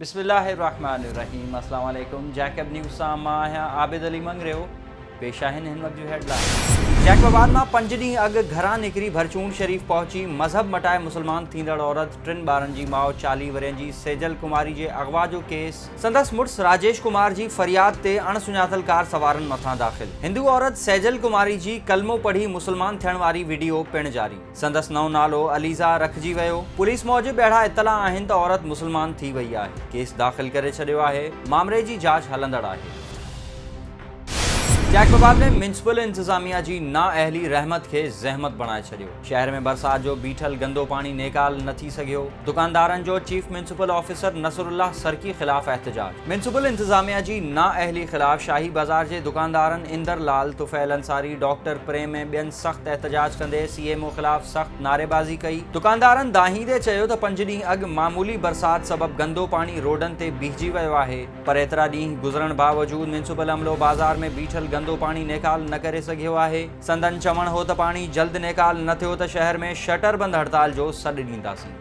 بسم الله الرحمٰن الرحيم اسلام عليڪم جيڪب نيوز سان مان آهيان عابد علي مڱريو پيش آهن هن وقت جون هيڊلائين جيڪب آباد مان پنج ڏينهن اڳ گهران نڪري ڀرچونڊ شريف پهچي مذهب مٽائي مسلمان ٿيندڙ عورت ٽن ٻارن جي ماء چاليهه ورهين جي سيجل ڪماري جي اغوا جو ڪيس سندس مڙس راجيش ڪمار جي فرياد تي اڻ سڃاتل ڪار سوارن مٿان داخل هندو عورت سيجل ڪماري جي ڪلمو پڙهي مسلمان ٿيڻ واري وڊيو پڻ جاري، سندس نئون نالو عليزا رکجي ويو، پوليس موجب اهڙا اطلاع آهن ته عورت مسلمان ٿي وئي آهي، ڪيس داخل ڪري ڇڏيو آهي، مامري جي جاچ هلندڙ آهي. جيڪب آباد ۾ ميونسپل انتظاميا جي نااهلي رحمت کي زحمت بڻائي ڇڏيو. شهر ۾ برسات جو بيٺل گندو پاڻي نيڪال نه ٿي سگهيو، دڪاندارن جو chief municipal officer Nasrullah Sarki خلاف احتجاج، ميونسپل انتظاميا جي نااهلي خلاف شاهي بازار جي دڪاندارن اندر لال، طفيل انصاري، ڊاڪٽر پريم ۽ ٻين سخت احتجاج ڪندي سي ايم او خلاف سخت نعريبازي ڪئي، دڪاندارن دانهيندي چيو ته پنج ڏينهن اڳ معمولي برسات سبب گندو پاڻي روڊن تي بيهجي ويو آهي پر ايترا ڏينهن گذرڻ باوجود ميونسپل عملو بازار ۾ بيٺل گندو پاڻي نيڪال نه ڪري سگهيو آهي. سندن چوڻ هو ته پاڻي جلد نيڪال نه ٿيو ته شهر ۾ شٽر بند هڙتال جو سڏ ڏينداسين.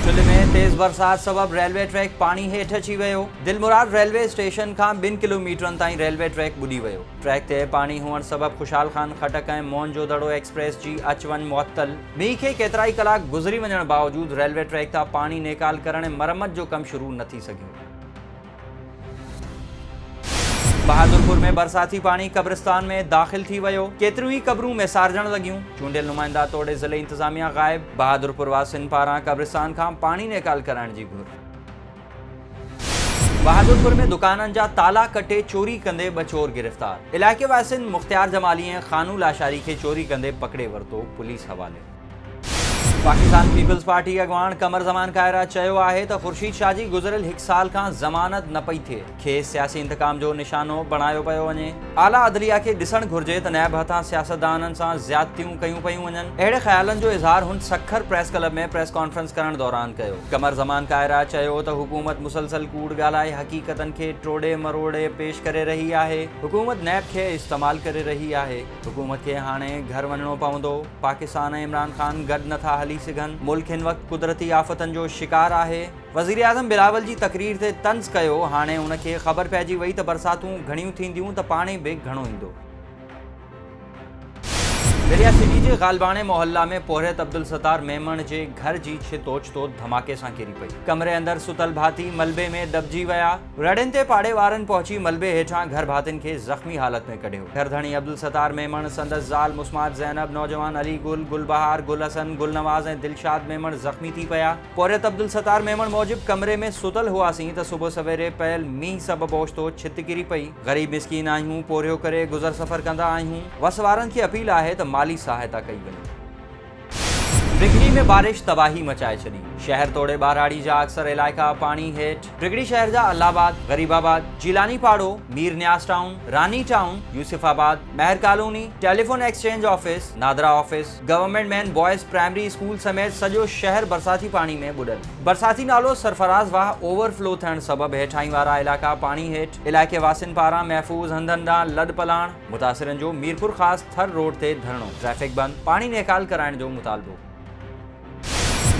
چلهه ۾ تيز برسات سبب ريلوي ٽريڪ پاڻي هيٺ اچي ويو، دلمراد ريلوي اسٽيشن کان ٻن ڪلوميٽرن تائين ريلوي ٽريڪ ٻڏي ويو، ٽريڪ تي پاڻي هئڻ سبب خوشحال خان خٽڪ ۽ موهن جو دڙو ايڪسپريس جي اچ وڃ معطل، مينهن کي ڪيترائي ڪلاڪ گذري وڃڻ باوجود ريلوي ٽريڪ تان پاڻي نيڪال ڪرڻ ۽ مرمت جو ڪم شروع نه ٿي سگهيو. بهادرپور ۾ برساتي پاڻي قبرستان ۾ داخل ٿي ويو، ڪيتريون ئي قبرون ميسارجڻ لڳيون، چونڊيل نمائندا توڙي ضلعي انتظاميا غائب، بهادرپور واسين پاران قبرستان کان پاڻي نيڪال ڪرائڻ جي گهر. بهادرپور ۾ دڪانن جا تالا ڪٽي چوري ڪندي ٻه چور گرفتار، علائقي واسين مختيار جمالي ۽ خانو لاشاري کي چوري ڪندي پڪڙي ورتو، پوليس حوالي. پاڪستان پيپلز پارٽي اڳواڻ قمر زمان کائرا چيو آهي ته خورشيد شاهه جي گذريل هڪ سال کان ضمانت نه پئي ٿئي، کيس سياسي انتقام جو نشانو بڻايو پيو وڃي. اعليٰ عدليه کي ڏسڻ گهرجي ته نيب هٿان سياستدانن سان زيادتيون ڪيون پيون وڃن، اهڙي خيالن جو اظهار هن Sukkur press club ۾ press conference ڪرڻ دوران ڪيو. قمر زمان کائرا چيو ته حڪومت مسلسل ڪوڙ ڳالهائي حقيقتن کي ٽوڙي مروڙي پيش ڪري رهي آهي، حڪومت نيب کي استعمال ڪري رهي آهي. حڪومت کي هاڻي گهر وڃڻو پوندو، پاڪستان ۽ عمران خان گڏ نه ٿا هلي سگهن، ملڪ هن وقت قدرتي آفتن جو شڪار آهي، وزيراعظم بلاول جي تقرير تي طنز ڪيو، هاڻي ان کي خبر پئجي وئي ته برساتون گهڻيون ٿينديون ته پاڻي به گهڻو ايندو. دريا سٽي جي غالباڻي محله ۾ پورهيت عبدالستار ميمڻ جي گهر جي ڇت اوچتو ڌماڪي سان ڪري پئي، ڪمري اندر ستل ڀاتي ملبي ۾ دٻجي ويا، رڙين تي پاڙي وارن پهچي ملبي هيٺان گهر ڀاتين کي زخمي حالت ۾ ڪڍيو. گهر ڌڻي عبدالستار ميمڻ، سندس زال مسمات زينب، نوجوان علي گل، گل بهار، گل حسن، گل نواز ۽ دلشاد ميمڻ زخمي ٿي پيا. پورهيت عبدالستار ميمڻ موجب ڪمري ۾ ستل هئاسين ته صبح سويري پيل مينهن سبب اوچتو ڇت ڪري پئي. غريب مسڪين آهيون، پورهيو ڪري گذر سفر ڪندا آهيون. وس وارن کي اپيل آهي ته مالي سهائتا ڪئي وڃي. ڊگهڙي ۾ بارش تباهي مچائي ڇڏي، شهر توڙي ٻهراڙي جا اڪثر علائقا پاڻي هيٺ، ڊگهڙي شهر جا الله آباد، غريب آباد، جيلاني پاڙو، Mir Niaz town, Rani town, Yousufabad, Mehar colony, telephone exchange office, NADRA office, government main boys primary school سميت سڄو شهر برساتي پاڻي ۾ ٻڏل، برساتي نالو سرفراز واهه اوور فلو ٿيڻ سبب هيٺاهين وارا علائقا پاڻي هيٺ، علائقي واسين پاران محفوظ هنڌن ڏانهن لڏپلاڻ. متاثرن جو ميرپورخاص ٿر روڊ تي ڌرڻو، ٽريفڪ بند، پاڻي نيڪال ڪرائڻ جو مطالبو.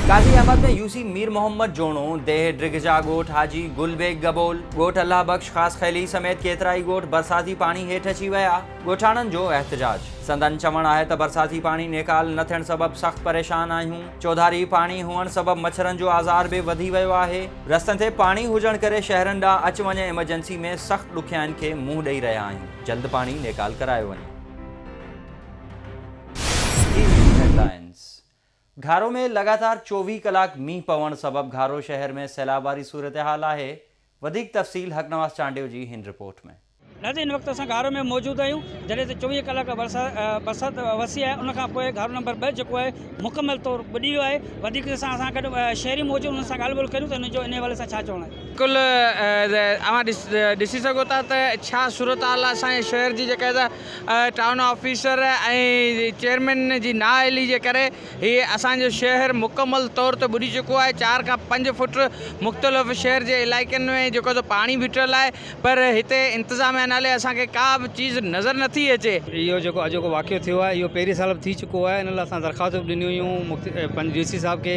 قاضي احمد ۾ يوسي مير محمد جوڻو، ديهه ڊگهجا ڳوٺ حاجي گل بيگ گبول، ڳوٺ الله بخش خاصخيلي سميت ڪيترائي ڳوٺ برساتي پاڻي هيٺ اچي ويا، ڳوٺاڻن جو احتجاج. سندن چوڻ آهي ته برساتي پاڻي نيڪال نه ٿيڻ سبب سخت پريشان آهيون، چوڌاري پاڻي هئڻ سبب مڇرن جو آزار به وڌي ويو آهي، رستن تي پاڻي هجڻ ڪري شهرين ڏانهن اچ وڃ ايمرجنسي ۾ سخت ڏکيائين کي منهن ڏئي رهيا آهيون. جلد پاڻي نيڪال ڪرايو وڃي. ٽي وي هيڊلائنز، گهارو ۾ لڳاتار چوويهه ڪلاڪ مينهن پوڻ سبب گهارو شهر ۾ سيلاب واري صورتحال آهي، وڌيڪ تفصيل حقنواز چانڊيو جي هن رپورٽ ۾. ناظرين هن وقت اسان گهارو ۾ موجود آهيون جڏهن ته چوويهه ڪلاڪ برسات وسي آهي ان کان پوء گهارو نمبر ٻه جيڪو آهي مڪمل طور ٻڏي ويو آهي وڌيڪ جي سان اسان گڏ شهري موجود انهن سان ڳالهه ٻولهه ڪريون ته انهن جو ان حوالي سان ڇا چوڻ آهي. بلڪل اوهان ڏسي سگهو ٿا ته ڇا صورت حال آهي اسان جي شهر جي جيڪا ٽائون آفيسر ۽ چيئرمين جي نا اهلي جي ڪري هي اسان جو شهر مڪمل طور تي ٻڏي چڪو آهي چار کان پنج فٽ مختلف شهر جي علائقن ۾ جيڪو سو پاڻي بيٺل آهي پر هتي انتظاميا نالي اسان کي ڪا به چيز نظر نه ٿي اچي. اهو جيڪو اڄوڪو واقعو ٿيو آهي اهو پهرين سال به ٿي چڪو آهي ان لاء اسان درخواست به ڏنيون هيون پنهنجي ڊي سي صاحب کي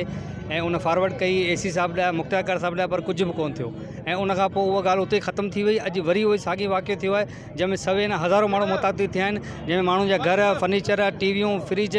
۽ ان فارورڊ ڪئي اي سي صاحب ڏانهن مختيار ڪار صاحب ڏانهن پر ڪجهه به ڪونه ٿيو ۽ ان کان پوء اها ڳالهه اتي ئي ختم ٿي وئي اڄ وري اهو ئي ساڳي واقعو ٿيو آهي جنهن ۾ سوين هزارون ماڻهو متاثر ٿيا آهن جنهن ۾ ماڻهن جا گهر فرنيچر ٽي ويون فرج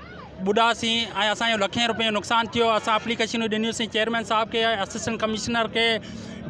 ٻڏا سين ۽ اسان جو لکين روپين جو نقصان ٿيو اسان اپليڪيشنون ڏنيون سين چيئرمين صاحب کي اسسٽنٽ ڪمشنر کي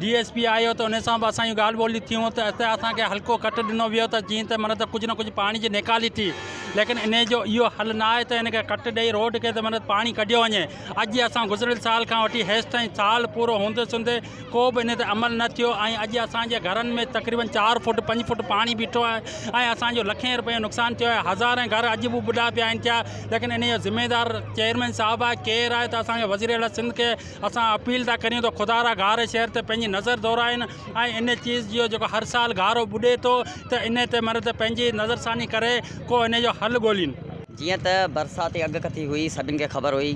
ڊي ايس پي آيو ته ان سان بھ اسان جون ڳالھھ ٻولھيون ٿيون ته اتي اسان کي حلقو ڪٽ ڏنو ويو ته جيئن ته معنيٰ ته ڪجھھ نھ ڪجھھ پاڻي جي نيڪالي ٿي ليڪن ان جو اھو حل نھ آھي ته ان کي ڪٽ ڏئي روڊ کي ته معنيٰ ته پاڻي ڪڍيو وڃي اڄ جي اسان گذريل سال کان وٺي ھيستائين سال پورو ھوندي سوندي ڪو به ان تي عمل نه ٿيو ۽ اڄ اسان جي گهرن ۾ تقريبن چار فوٽ پنج فوٽ پاڻي بيٺو آهي ۽ اسان جو لکين روپين جو نقصان ٿيو آهي هزارين گهر اڄ به ٻڏا پيا آهن ٿيا ليڪن ان جو ذميوار چيئرمين صاحب آهي ڪير آهي ته اسان کي وزير اعليٰ سنڌ کي اسان اپيل ٿا ڪريون ته خدا را گهار شهر تي پنهنجي نظر دورائين ۽ ان چيز جو جيڪو هر سال گهارو ٻڏي ٿو ته ان تي مر ته پنهنجي نظرثاني ڪري ڪو ان جو حل ڳولين. جيئن ته برساتي اڳڪٿي هئي سڀن کي خبر هئي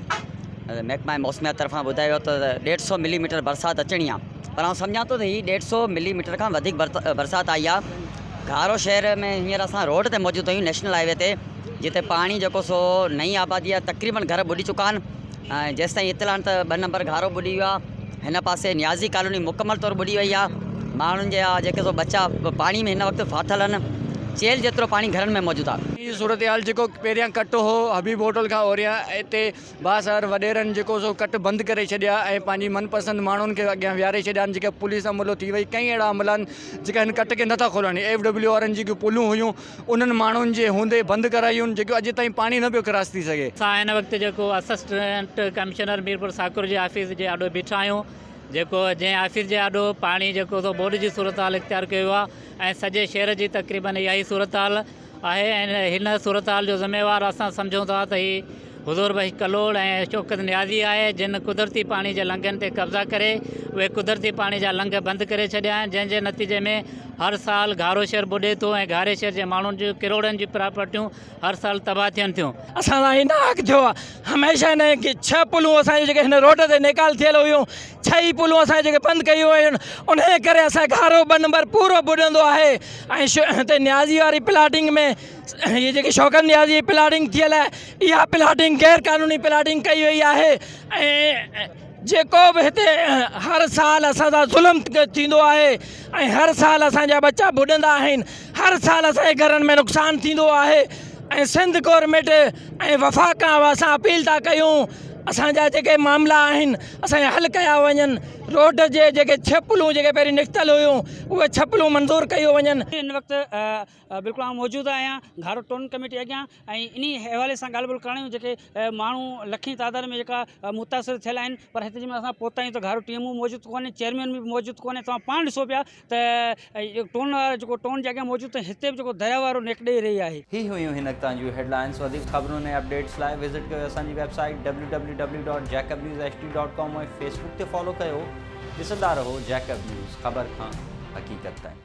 محڪمه موسميات طرفان ٻڌايو ويو ته ڏيڍ سؤ ملي ميٽر برسات اچڻي آ پر آئون سمجهان ٿو ته هي ڏيڍ سؤ ملي ميٽر کان وڌيڪ برسات آئي آ گهارو شهر ۾ هينئر اسان روڊ تي موجود آهيون نيشنل هاء وي تي جتي پاڻي جيڪو سو نئين آبادي آ تقريبن گهر ٻڏي چڪا آهن ۽ جيستائين اطلاع آهن ته ٻه نمبر گهارو ٻڏي ويو آهي هن پاسي نيازي ڪالوني مڪمل طور ٻڏي وئي آهي ماڻهن جا جيڪي سو ٻچا پاڻي ۾ هن وقت ڦاٿل آهن چيلهه جيترو پاڻي گهرن ۾ موجود آهي. هي صورتحال جيڪو پهريان ڪٽ هو حبيب هوٽل کان اوريان اتي بااثر وڏيرن جيڪو سو ڪٽ بند ڪري ڇڏيا ۽ پنهنجي من پسند ماڻهن کي اڳيان ويهاري ڇڏيا آهن جيڪي پوليس عملو ٿي وئي ڪئين اهڙا عملا آهن جيڪا هن ڪٽ کي نٿا کولڻ ڏين ايف ڊبليو وارن جي جيڪي پولون هيون انهن ماڻهن جي هوندي بند ڪرايون جيڪو اڄ تائين پاڻي نه پيو ڪراس ٿي سگهي. اسان هن وقت جيڪو اسسٽنٽ ڪمشنر ميرپور ساڪر جي آفيس جي آڏو بيٺا آهيون جيڪو جنهن آفيس جي آڏو پاڻي جيڪو سو ٻوڏ جي صورتحال اختيار ڪيو ويو آهي ۽ سڄي شهر جي تقريبن اها ئي صورتحال آهي ۽ هن صورتحال جو ذميوار اسان سمجهون ٿا ته هي حضور بخش ڪلهوڙ ۽ شوڪت نيازي آء جن قدرتي پاڻي جي لنگهن تي قبضا ڪري اهي قدرتي پاڻي جا لنگهه بند ڪري ڇڏيا آهن جنهن جي نتيجي ۾ هر سال گهارو شهر ٻڏي ٿو ۽ گهاري شهر جي ماڻهن جون ڪروڙن جون پراپرٽيون هر سال تباهه ٿين ٿيون. اسان سان هن حق ٿيو آهي هميشه هن ڇهه پلون اسان جون جيڪي هن روڊ تي نيڪال ٿيل هيون ڇهه ئي پلون اسان جون جيڪي بند ڪيون ويون انهي ڪري اسان جو گهارو ٻه نمبر پورو ٻڏندو آهي ۽ هتي نيازي واري پلاٽنگ ۾ هي جيڪي شوڪت نياز جي پلاٽنگ ٿيل آهي اها پلاٽنگ غير قانوني پلاٽنگ ڪئي وئي آهي ۽ جيڪو به هتي هر سال اسان سان ظلم ٿيندو آهي ۽ هر سال اسانجا ٻچا ٻڏندا آهن هر سال اسانجي گهرن ۾ نقصان ٿيندو آهي ۽ سنڌ گورنمينٽ ۽ وفاق کان اسان اپيل ٿا ڪيون اسانجا جيڪي معاملا آهن اسانجا حل ڪيا وڃن روڊ جي جيڪي ڇپلون جيڪي پهرين نڪتل هيون اهي ڇپلون منظور ڪيون وڃن هن وقت بلڪل آئون موجود آهيان گهارو ٽون ڪميٽي اڳيان ۽ انهي حوالي سان ڳالهه ٻولهه ڪرڻيون جيڪي ماڻهو لکين تعداد ۾ جيڪا متاثر ٿيل آهن پر هتي جي مهل اسان پهتا آهيون ته گهارو ٽي ايم او موجود ڪونهي چيئرمين به موجود ڪونهي توهان پاڻ ڏسو پيا ته ٽون وارو جيڪو ٽون جي اڳيان موجود ته هتي به جيڪو درياء وارو نيڪ ڏئي رهي آهي. هي هيون هن تان جون هيڊلائنس وڌيڪ خبرن ۽ اپڊيٽس لاء وزٽ ڪيو اسان جي website W W W dot Jacob news H D dot com ۽ facebook تي فالو ڪيو ڏسندا رهو جيڪب نيوز خبر کان حقيقت تائين.